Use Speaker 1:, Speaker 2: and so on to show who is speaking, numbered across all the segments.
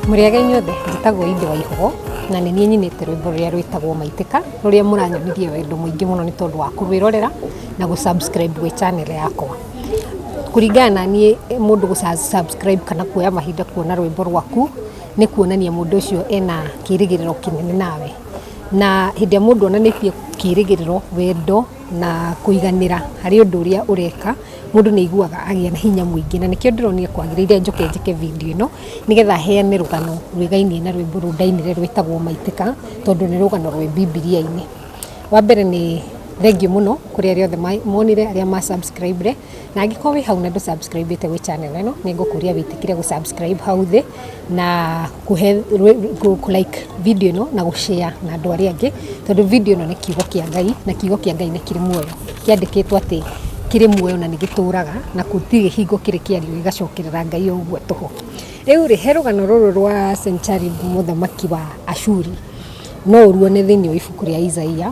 Speaker 1: mũrĩega inyuothe njĩtagwo inde wa ihogo na nĩ niĩ nyinĩte rwĩmbo rũrĩa rwĩtagwo maitĩka rũrĩa mũranyonirie wendo mũingĩ mũno nĩ tondũ wa kũrwĩrorera na gũ-subscribe gwĩ channel yakwa kũringana na niĩ eh, mũndũ gũ-subscribe kana kuoya mahinda kuona rwĩmbo rwaku nĩ kuonania mũndũ ũcio ena kĩrĩgĩrĩro kĩnene nawe na hĩndĩ ĩrĩa mũndũ onanĩtie kĩrĩgĩrĩro, wendo na kũiganĩra harĩ ũndũ ũrĩa ũreka, mũndũ nĩ aiguaga agĩa na hinya mũingĩ. Na nĩkĩo ndĩronire kwagĩrĩire njoke njĩke video ĩno, nĩgetha heane rũgano rwĩgainie na rwĩmbo rũu ndainire rwĩtagwo Maitĩka, tondũ nĩ rũgano rwĩ Bibilia-inĩ. Wa mbere nĩ thengiũ mũno kũrĩ arĩa othe monire, arĩa ma subscribed. na angĩkorwo wĩ hau na ndũ subscribe ĩte gwĩ channel ĩno nĩ ngũkũria wĩtĩkire gũ subscribe hau thĩ na kũhe rwĩ- kũ- kũ like video ĩno na gũshare na andũ arĩa angĩ tondũ video ĩno nĩ kiugo kĩa ngai na kiugo kĩa ngai nĩ kĩrĩ muoyo kĩandĩkĩtwo atĩ kĩrĩ muoyo na nĩ gĩtũũraga na gũtirĩ hingo kĩrĩ kĩario gĩgacokerera ngai o ũguo tũhũ rĩu rĩ he rũgano rũrũ rwa sencharibu mũthamaki wa ashuri no ũruone thĩinĩ wa ibuku rĩa isaia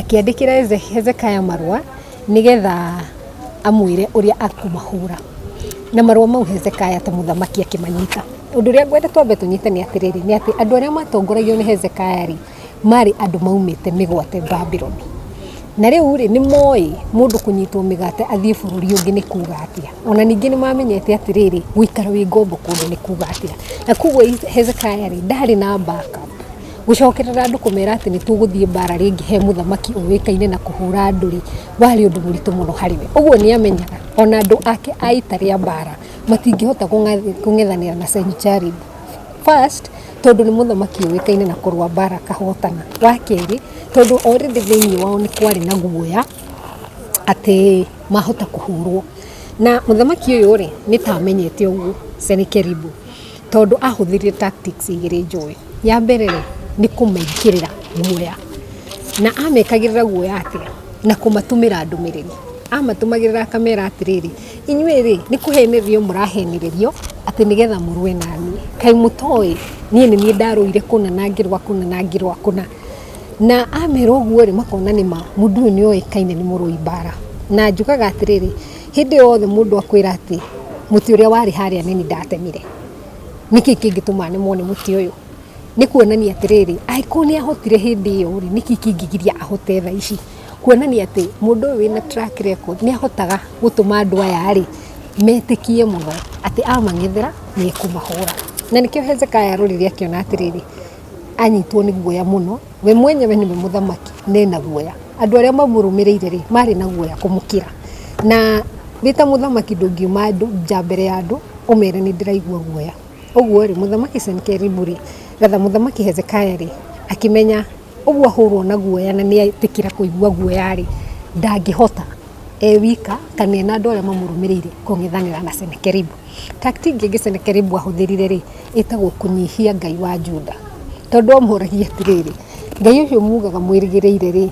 Speaker 1: Akĩandĩkĩra Hezekaya marũa nĩgetha amwĩre ũrĩa akũmahũra. Na marũa mau Hezekaya ta mũthamaki akĩmanyita. Ũndũ ũrĩa ngwenda twambe tũnyite nĩ atĩrĩrĩ, nĩ atĩ andũ arĩa matongoragio nĩ Hezekaya rĩ, marĩ andũ maumĩte mĩgwate Babironi. Na rĩu rĩ, nĩ moĩ mũndũ kũnyitwo mĩgate athiĩ bũrũri ũngĩ nĩ kuga atĩa. Ona ningĩ nĩ mamenyete atĩrĩrĩ, gũikara wĩ ngombo kũndũ nĩ kuga atĩa. Na koguo Hezekaya rĩ, ndarĩ na backup. Gũcokerera andũ kũmera atĩ nĩ tũgũthiĩ mbaara rĩngĩ he mũthamaki ũĩkaine na kũhũra andũ rĩ, warĩ ũndũ mũritũ mũno harĩ we. Ũguo nĩ amenyaga o na andũ ake a ita rĩa mbaara matingĩhota kũng'ethanĩra na Sennacherib. First, tondũ nĩ mũthamaki ũĩkaine na kũrũa mbaara akahotana. Wa kerĩ, tondũ already thĩinĩ wao nĩ kwarĩ na guoya atĩ mahota kũhũrũo. Na mũthamaki ũyũ rĩ, nĩ ta amenyete ũguo Sennacherib. Tondũ ahũthĩrire tactics igĩrĩ njũĩ. Ya mbere rĩ, nĩ kũmekĩrĩra guoya. Na amekagĩrĩra guoya atĩa? Na kũmatũmĩra ndũmĩrĩri. Amatũmagĩrĩra akamera atĩrĩrĩ, inyuĩ rĩ, nĩ kũhenererio mũrahenererio atĩ nĩ getha mũrũe na niĩ. Kaĩ mũtoĩ niĩ nĩ niĩ ndarũire kũna na ngĩrũa kũna na ngĩrũa kũna. Na amera ũguo rĩ, makona nĩ ma, mũndũ ũyũ nĩ oĩkaine nĩ mũrũi mbara. Na njugaga atĩrĩrĩ... Hĩndĩ yothe mũndũ akwĩra atĩ mũtĩ ũrĩa warĩ harĩa nĩ niĩ ndatemire, nĩkĩ kĩngĩtũma nemwo nĩ mũtĩ ũyũ? Nĩ kuonania atĩrĩrĩ, angĩkorwo nĩ ahotire hĩndĩ ĩyo rĩ, nĩkĩ kĩngĩgiria ahote thaa ici? Kuonania atĩ mũndũ ũyũ wĩna track record nĩ ahotaga gũtũma andũ aya rĩ, metĩkie mũno atĩ amang'ethera nĩ ekũmahũra. Na nĩkĩo Hezekia arorire akĩona atĩrĩrĩ, anyitwo nĩ guoya mũno. We mwenyewe nĩwe mũthamaki, nĩ na guoya. Andũ arĩa mamũrũmĩrĩire-rĩ, marĩ na guoya kũmũkĩra. Na wĩ ta mũthamaki ndũngiuma nja mbere ya andũ ũmere nĩndĩraigua guoya. Ũguo-rĩ, mũthamaki Senikeribu-rĩ, ratha mũthamaki Hezekaya-rĩ, akĩmenya ũguo ahũrwo na guoya na nĩetĩkĩra kũigua guoya-rĩ, ndangĩhota. e wika kana ena andũ arĩa mamũrũmĩrĩire kũng'ethanĩra na Senakeribu. Tactic ĩngĩ Senakeribu ahũthĩrire rĩ, ĩtagwo kũnyihia Ngai wa Juda. Tondũ amũragia atĩrĩrĩ, Ngai ũcio mugaga mwĩrĩgĩrĩire rĩ,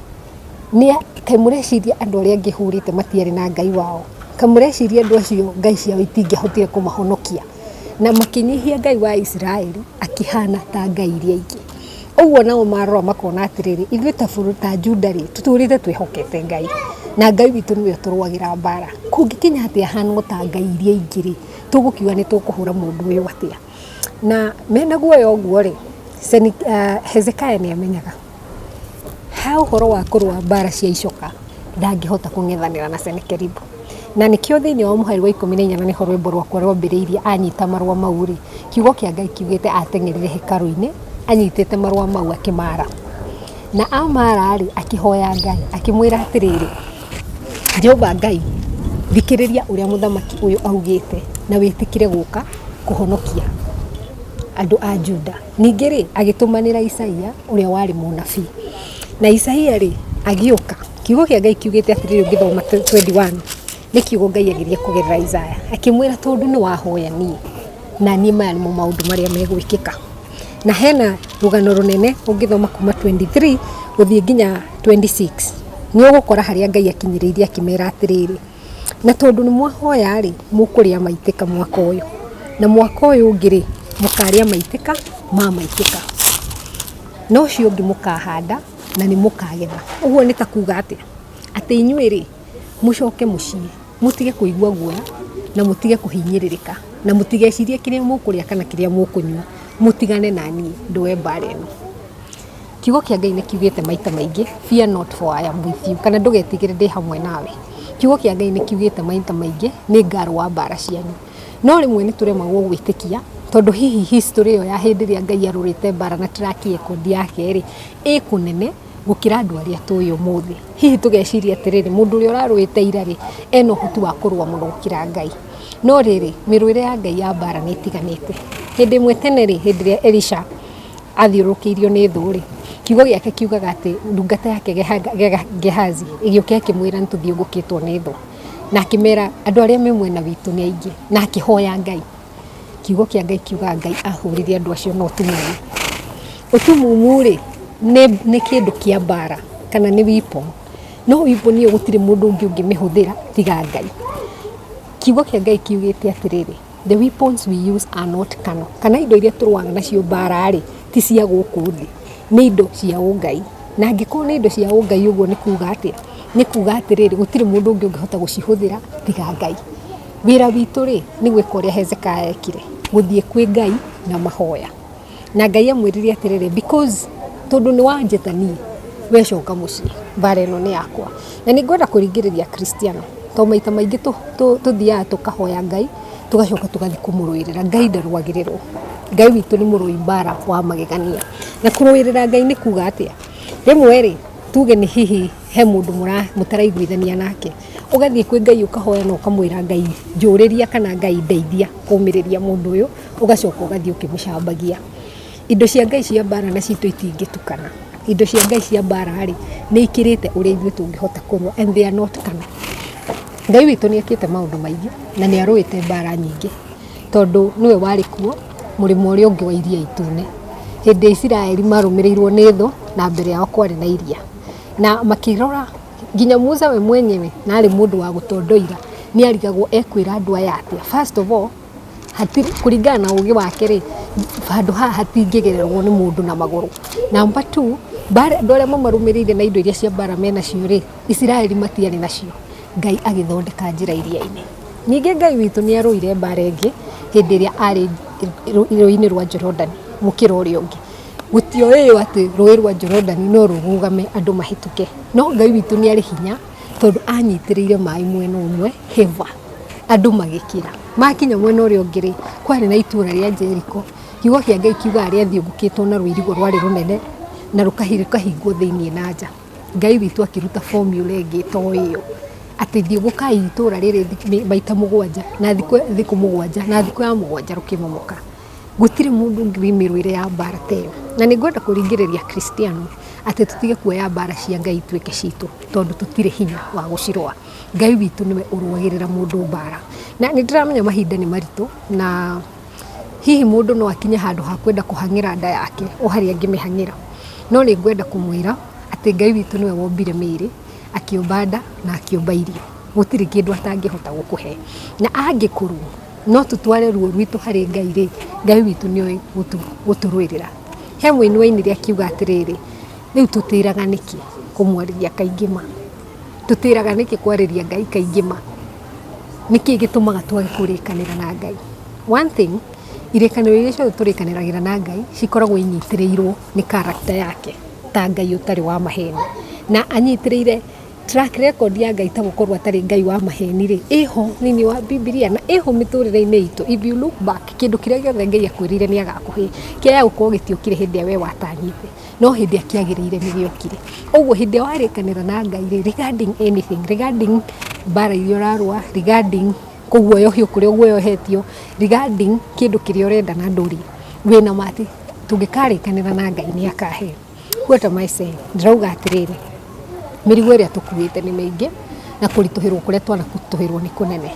Speaker 1: kaĩ mũreciria andũ arĩa angĩ hũrĩte matiarĩ na Ngai wao? Kaĩ mũreciria andũ acio Ngai ciao itingĩahotire kũmahonokia? Na makĩnyihia Ngai wa Isiraeli akĩhana ta ngai iria ingĩ. Ũguo nao marora makona atĩrĩrĩ, ithuĩ ta bũrũri ta Juda rĩ, tũtũrĩte twĩhokete Ngai, na Ngai witũ nĩwe ũtũrũagĩra mbara. Kũngĩkinya atĩ ahana o ta ngai iria ingĩ rĩ, tũgũkiuga nĩ tũkũhũra mũndũ ũyũ atĩa? Na mena guoya ũguo rĩ, Hezekia nĩ amenyaga he ũhoro wa kũrũa mbara cia icoka. ndangĩhota kũng'ethanĩra na Senakeribu. Na nĩkĩo thĩinĩ wa mũhari wa ikũmi na inya na nĩho rwĩmbo rwakwa rwambĩrĩirie anyita marũa mau rĩ kiugo kĩa Ngai kiugĩte ateng'erire hekaru-inĩ anyitĩte marũa mau akĩmara na amara rĩ akĩhoya Ngai akĩmwĩra atĩrĩrĩ Jehova Ngai thikĩrĩria ũrĩa mũthamaki ũyũ augĩte na wĩtĩkĩre gũka kũhonokia andũ a Juda. Ningĩ-rĩ, agĩtũmanĩra Isaia ũrĩa warĩ mũnabii. Na Isaia-rĩ, agĩũka. Kiugo kĩa Ngai kiugĩte atĩrĩrĩ ũngĩthoma twendi wani, nĩ kiugo Ngai ageria kũgerera Isaia. Akĩmwĩra tondũ nĩ wahoya niĩ, na niĩ maya nĩmo maũndũ marĩa megwĩkĩka. Na hena rũgano rũnene ũngĩthoma kuma twendi three gũthiĩ nginya twendi six, nĩ ũgũkora harĩa Ngai akinyĩrĩirie akĩmera atĩrĩrĩ. na tondũ nĩ mwahoya rĩ, mũkũrĩa maitĩka mwaka ũyũ, na mwaka ũyũ ũngĩ rĩ, mũkarĩa maitĩka ma maitĩka, na ũcio ũngĩ mũkahanda na nĩ mũkagetha. Ũguo nĩ ta kuuga atĩa? Atĩ inyuĩ rĩ, mũcoke mũciĩ, mũtige kũigua guoya, na mũtige kũhinyĩrĩrĩka, na mũtigecirie kĩrĩa mũkũrĩa kana kĩrĩa mũkũnyua, mũtigane na niĩ ndũe mbaara ĩno. Kiugo kĩa Ngai nĩ kiugĩte maita maingĩ fear not for I am with you kana ndũgetigĩre ndĩ hamwe nawe. Kiugo kĩa Ngai nĩ kiugĩte maita maingĩ nĩ ngarũa mbara cianyu. No rĩmwe nĩ tũremagwo gwĩtĩkia tondũ hihi history ĩyo ya hĩndĩ ĩrĩa Ngai arũrĩte mbara na track record yake rĩ, ĩ kũnene gũkĩra andũ arĩa tũĩ ũmũthĩ. Hihi tũgeciria atĩrĩrĩ, mũndũ ũrĩa ũrarũĩte ira rĩ, ena ũhoti wa kũrũa mũno gũkĩra Ngai. No rĩrĩ, mĩrũĩre ya Ngai ya mbara nĩ ĩtiganĩte. Hĩndĩ ĩmwe tene rĩ, hĩndĩ ĩrĩa Elisha athiũrũkĩirio nĩ thũ-rĩ, kiugo gĩake kiugaga atĩ ndungata yake Gehazi ĩgĩũka ĩkĩmwĩra nĩtũthiũngũkĩtwo nĩ thũ, na akĩmera andũ arĩa me mwena witũ nĩ aingĩ, na akĩhoya Ngai. Kiugo kĩa Ngai kiugaga Ngai ahũrire andũ acio na ũtumumu. Ũtumumu-rĩ, nĩ kĩndũ kĩa mbara kana nĩ weapon, no weapon ĩyo gũtirĩ mũndũ ũngĩ ũngĩmĩhũthĩra tiga Ngai. Kiugo kĩa Ngai kiugĩte atĩrĩrĩ. The weapons we use are not carnal. Kana indo iria tũrũaga nacio mbaara-rĩ, ti cia gũkũ thĩ. Nĩ indo cia ũngai. Na angĩkorwo nĩ indo cia ũngai ũguo nĩ kuuga atĩa? Nĩ kuuga atĩrĩrĩ, gũtirĩ mũndũ ũngĩ ũngĩhota gũcihũthĩra tiga Ngai. Wĩra witũ-rĩ, nĩ gwĩka ũrĩa Hezekiah ekire, gũthiĩ kwĩ Ngai na mahoya. na ngai amwĩrire atĩrĩrĩ because tondũ nĩ wanjĩta niĩ we coka mũciĩ mbara ĩno nĩ yakwa na nĩ ngwenda kũringĩrĩria kristiano to maita maingĩ tũ- tũ- tũthiaga tũkahoya ngai tũgacoka tũgathiĩ kũmũrũĩrĩra ngai ndarũagĩrĩrwo ngai witũ nĩ mũrũi mbara wa magegania na kũrũĩrĩra ngai nĩ kuga atĩa rĩmwe rĩ tuge nĩ hihi he mũndũ mũra- mũtaraiguithania nake ũgathiĩ kwĩ ngai ũkahoya na ũkamwĩra ngai njũrĩria kana ngai ndeithia kũmĩrĩria mũndũ ũyũ ũgacoka ũgathiĩ ũkĩmũcambagia. Indo cia Ngai cia mbaara na citũ itingĩtukana. Indo cia Ngai cia mbaara rĩ, nĩ ikĩrĩte ũrĩa ithuĩ tũngĩhota kũrũa and they are not kana. Ngai witũ nĩ ekĩte maũndũ maingĩ na nĩ arũĩte mbaara nyingĩ tondũ nĩwe warĩ kuo mũrĩmo ũrĩa ũngĩ wa Iria Itune hĩndĩ Isiraeli marũmĩrĩirwo nĩ thũ na mbere yao kwarĩ na iria. Na makĩrora nginya Musa we mwenyewe na arĩ mũndũ wa gũtondoira nĩ arigagwo ekwĩra andũ aya atĩa. First of all kũringana na ũgĩ wake rĩ, handũ haha hatingĩgererwo nĩ mũndũ na magũrũ. Namba two, andũ arĩa mamarũmĩrĩire na indo iria cia mbaara me nacio rĩ, Isiraeli matiarĩ nacio, Ngai agĩthondeka njĩra iria-inĩ. Ningĩ Ngai witũ nĩ arũire mbaara ĩngĩ hĩndĩ ĩrĩa arĩ Rũũĩ-inĩ rwa Jorodani gũkĩra ũrĩa ũngĩ. Gũtioĩo atĩ Rũũĩ rwa Jorodani no rũrũgame andũ mahĩtũke, no Ngai witũ nĩ arĩ hinya tondũ aanyitĩrĩire maaĩ mwena ũmwe, hĩba. Andũ magĩkira, makinya mwena ũrĩa ũngĩ rĩ, kwarĩ na itũra rĩa Jeriko, kiugo kĩa Ngai kiugaga rĩathiũngũkĩtwo na rũirigo rwarĩ rũnene, na rũkahingwo thĩiniĩ na nja. Ngai witũ akĩruta formula ĩngĩ to ĩyo, atĩ thiũngũkai itũra rĩrĩ maita mũgwanja, na thikũ thikũ mũgwanja, na thikũ ya mũgwanja rũkĩmomoka. Gũtirĩ mũndũ ũngĩ wĩ mĩrũĩre ya mbara ta ĩyo. Na nĩ ngwenda kũringĩrĩria Akristiano, atĩ tũtige kuoya mbara cia Ngai ituĩke citũ, tondũ tũtirĩ hinya wa gũcirũa. Ngai witũ nĩwe ũrũagĩrĩra mũndũ mbara na nĩ ndĩramenya mahinda nĩ maritũ na hihi mũndũ no akinye handũ ha kwenda kũhang'ĩra nda yake o harĩa angĩmĩhang'ĩra, no nĩ ngwenda kũmwĩra atĩ Ngai witũ nĩwe wombire mĩĩrĩ, akĩũmba nda na akĩũmba irio. Gũtirĩ kĩndũ atangĩhota gũkũhe na angĩkorwo no tũtware ruo rwitũ harĩ Ngai rĩ, Ngai witũ nĩ oĩ gũtũrũĩrĩra. He mũini wainire akiuga atĩrĩrĩ, rĩu tũtĩraga nĩkĩ kũmwarĩria kaingĩ ma. Tũtĩraga nĩkĩ kwarĩria Ngai kaingĩ ma? Nĩkĩ gĩtũmaga twage kũrĩkanĩra na Ngai? One thing, irĩkanĩro iria ciothe tũrĩkanagĩra na Ngai cikoragwo inyitĩrĩirwo nĩ character yake ta Ngai ũtarĩ wa maheni. Na anyitĩrĩire track record ya Ngai ta gũkorwo atarĩ Ngai wa maheni rĩ, ĩho thĩiniĩ wa Bibilia na ĩho mĩtũrĩre-inĩ itũ. If you look back, kĩndũ kĩrĩa gĩothe Ngai akwĩrĩire nĩ agakũhe, kĩaya gũkorwo gĩtiokire hĩndĩ ĩrĩa we watanyĩte. no hĩndĩ ĩrĩa kĩagĩrĩire nĩ gĩokire. Ũguo hĩndĩ ĩrĩa warĩkanĩra na Ngai rĩ, regarding anything, regarding mbara iria ũrarũa, regarding kũguoyohio kũrĩa ũguoyohetio, regarding kĩndũ kĩrĩa ũrenda na ndũrĩ, wĩna ma atĩ tũngĩkarĩkanĩra na Ngai nĩ akahe. What am I saying? Ndĩrauga atĩrĩrĩ, mĩrigo ĩrĩa tũkuĩte nĩ mĩingĩ na kũritũhĩrwo kũrĩa twanaritũhĩrwo nĩ kũnene.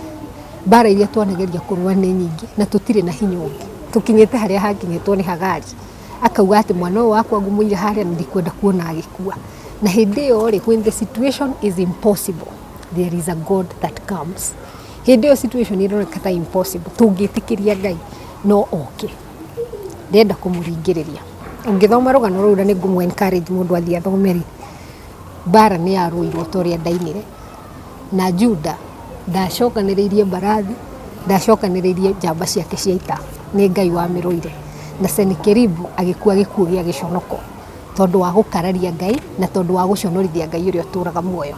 Speaker 1: Mbara iria twanageria kũrũa nĩ nyingĩ na tũtirĩ na hinya ũngĩ. Tũkinyĩte harĩa hakinyĩtwo nĩ Hagari. akauga atĩ mwana ũyũ wakwa ngũmũiga harĩa na ndikwenda kuona agĩkua na hĩndĩ ĩyo rĩ when the situation is impossible there is a god that comes hĩndĩ ĩyo situation ĩroneka ta impossible tũngĩtĩkĩria ngai no oke ndenda kũmũringĩrĩria ũngĩthoma rũgano rũu na nĩ ngũmũ encourage mũndũ athiĩ athome rĩ mbara nĩ yarũirwo ta ũrĩa ndainire na Juda, ndacokanĩrĩirie mbarathi, ndacokanĩrĩirie njamba ciake cia ita, nĩ Ngai wamĩrũire. Na Senakeribu agĩkua gĩkuũ gĩa gĩconoko, tondũ wa gũkararia Ngai, na tondũ wa gũconorithia Ngai ũrĩa ũtũraga muoyo.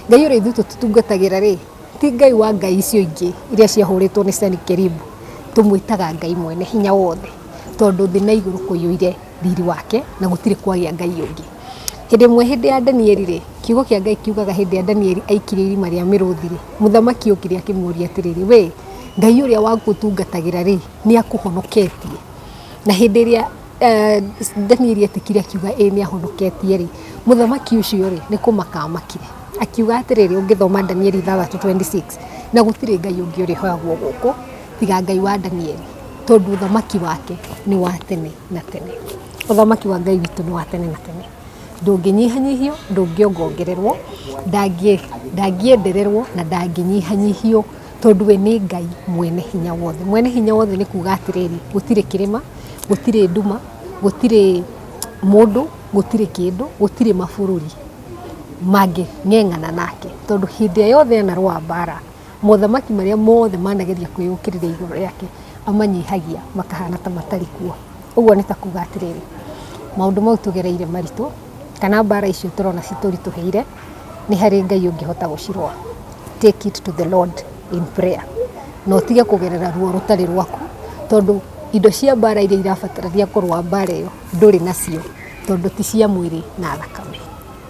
Speaker 1: Ngai ũrĩa ithuĩ tũtungatagĩra-rĩ, ti Ngai wa ngai icio ingĩ iria ciahũrĩtwo nĩ Senakeribu, tũmwĩtaga Ngai Mwene-Hinya-Wothe, tondũ thĩ na igũrũ kũiyũire. riri wake na gũtirĩ kwagĩa Ngai ũngĩ. Hĩndĩ ĩmwe hĩndĩ ya Danieli-rĩ, kiugo kĩa Ngai kiugaga hĩndĩ ĩrĩa Danieli aikirio irima rĩa mĩrũthi-rĩ, mũthamaki okire akĩmũria atĩrĩrĩ, we Ngai ũrĩa waku ũtungatagĩra-rĩ, nĩ akũhonoketie? Na hĩndĩ ĩrĩa eh, Danieli etĩkire akiuga ĩĩ nĩ ahonoketie-rĩ, mũthamaki ũcio-rĩ nĩ kũmaka amakire akiuga atĩrĩrĩ, ũngĩthoma Danieli 3:26 na gũtirĩ Ngai ũngĩ ũrĩhoyagwo gũkũ tiga Ngai wa Danieli, tondũ ũthamaki wake nĩ wa tene na tene. Ũthamaki wa Ngai witũ nĩ wa tene na tene. Ndũngĩnyihanyihio, ndũngĩongongererwo, ndangĩendererwo na ndangĩnyihanyihio tondũ we nĩ Ngai mwene hinya wothe. Mwene hinya wothe nĩ kuga atĩrĩrĩ, gũtirĩ kĩrĩma, gũtirĩ nduma, gũtirĩ mũndũ, gũtirĩ kĩndũ, gũtirĩ mabũrũri mangĩng'eng'ana nake tondũ hĩndĩ ĩrĩa yothe ena rũa mbara... Mothamaki marĩa mothe manageria kwĩyũkĩrĩria igũrũ rĩake, amanyihagia makahana ta matarĩ kuo. Ũguo nĩ ta kuuga atĩrĩrĩ, maũndũ mau tũgereire maritũ, kana mbara icio tũrona citũritũhĩire, nĩ harĩ Ngai ũngĩhota gũcirũa. Take it to the Lord in prayer. Na ũtige kũgerera ruo rũtarĩ rwaku, tondũ indo cia mbara iria irabatarania kũrũa mbara ĩyo ndũrĩ nacio, tondũ ti cia mwĩrĩ na thakame.